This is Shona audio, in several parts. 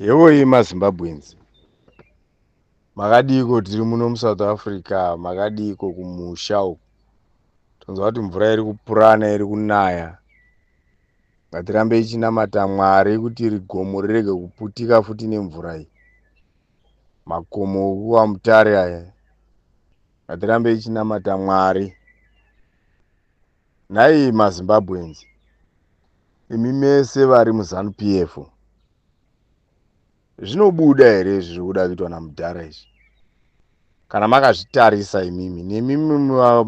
Yevoi maZimbabweans makadiiko tiri muno muSouth Africa makadiiko kumusha uku tonzwa kuti mvura iri kupurana iri kunaya ngatirambe ichinamata mwari kuti iri gomo rirege kuputika futi nemvura iyi makomo okuwa mutare aya ngatirambe ichinamata mwari Nhai maZimbabweans, imi mese vari muZanu PF, zvinobuda here izvi zviri kuda kuitwa namudhara izvi? Kana makazvitarisa imimi, nemimi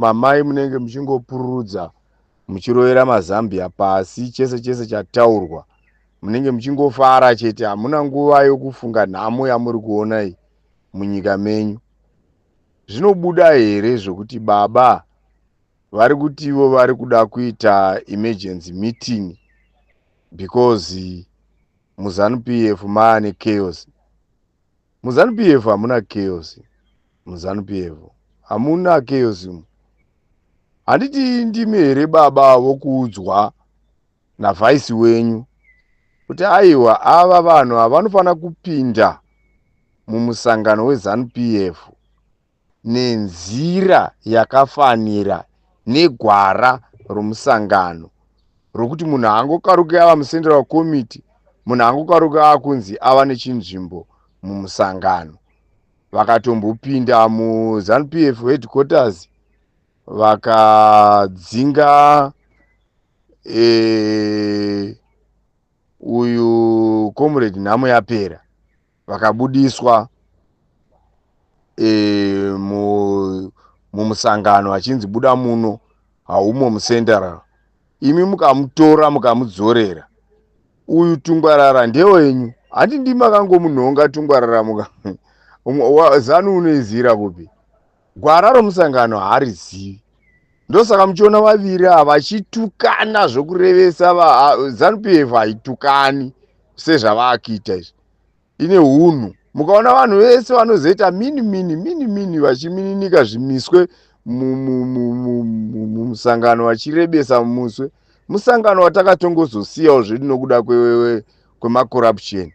mamai munenge muchingopururudza muchirovera mazambia pasi, chese chese chataurwa munenge muchingofara chete, hamuna nguva yokufunga nhamo yamuri kuona iyi munyika menyu. Zvinobuda here zvokuti baba vari kuti ivo vari kuda kuita emergency meeting because muzanup f maane chaos muzanup f hamuna chaos muzanup f hamuna chaos mu handiti ndimi here baba vokuudzwa navhaisi wenyu kuti aiwa ava vanhu havanofanira kupinda mumusangano wezanup f nenzira yakafanira negwara romusangano rokuti munhu haangokaruki ava mucentral committee munhu haangokaruki ava kunzi ava nechinzvimbo mumusangano vakatombopinda muzanupf headquarters vakadzinga e, uyu comrade nhamo yapera vakabudiswa e, mu, mumusangano achinzi buda muno haumo mucenteral imi mukamutora mukamudzorera uyu tungwarara ndewenyu handi ndimakangomunhonga tungwarara muka zanu unoizira kupi Gwara romusangano haarizivi ndosaka muchiona vaviri ava vachitukana zvokurevesa zanu pf haitukani sezvavaakuita izvi ine hunhu mukaona vanhu vese vanozoita mini mini mini mini vachimininika zvimiswe mumusangano vachirebesa mumuswe musangano watakatongozosiyawo zvedu nokuda kwemakurapusheni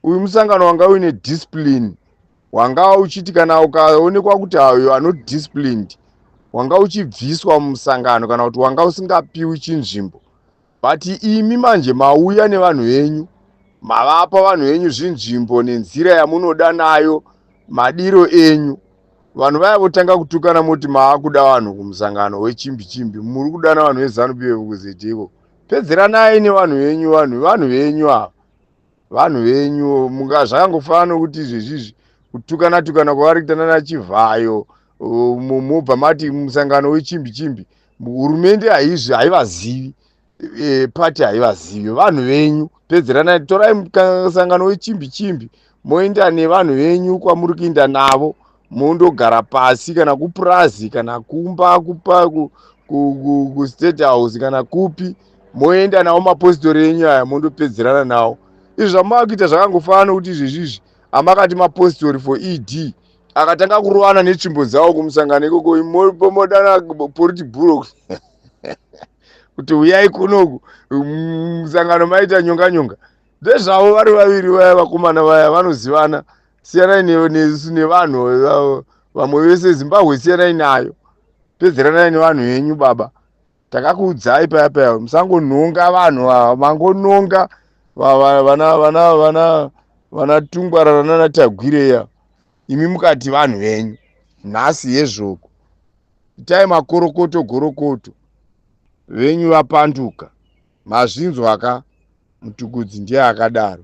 uyu musangano wanga uine discipline wanga uchiti kana ukaonekwa kuti ayo anot disciplined wanga uchibviswa mumusangano kana kuti wanga usingapiwi chinzvimbo but imi manje mauya nevanhu venyu mavapa vanhu venyu zvinzvimbo nenzira yamunoda nayo madiro enyu vanhu vaya votanga kutukana moti maakuda vanhu kumusangano wechimbi chimbi muri kudana vanhu vezanup vekuzitiko pedzeranai nevanhu venyu vanhu vanhu venyu ava vanhu venyu munga zvakangofanana nokuti izvezvizvi kutukana tukana kwavari kuita nana chivhayo mobva mati musangano wechimbi chimbi hurumende haizvi haivazivi e, pati haivazivi vanhu venyu pedzeranai torai musangano wechimbi chimbi moenda nevanhu venyu kwamuri kuinda navo mondogara pasi kana kupurazi kana kumba kupa kustate ku, ku, house kana kupi moenda nawo mapositori enyu aya mondopedzerana nawo izvi zvamava kuita zvakangofanana nokuti izvezvizvi amakati mapositori for ed akatanga kurovana netsvimbo dzawo kumusangano ikoko modana poriti buro kuti huyai kunoku musangano maita nyonga nyonga ndezvavo vari vaviri vaya vakomana vaya vanozivana siyanai nesu nevanhu eh, vamwe vese zimbabwe siyanai nayo pedzeranai nevanhu venyu baba takakuudzai paya paya musangonhonga vanhu ava mangononga vanatungwarara nanatagwireya imi mukati vanhu venyu nhasi yezvoko itai makorokoto gorokoto venyu vapanduka mazvinzwaka mutukudzi ndiye akadaro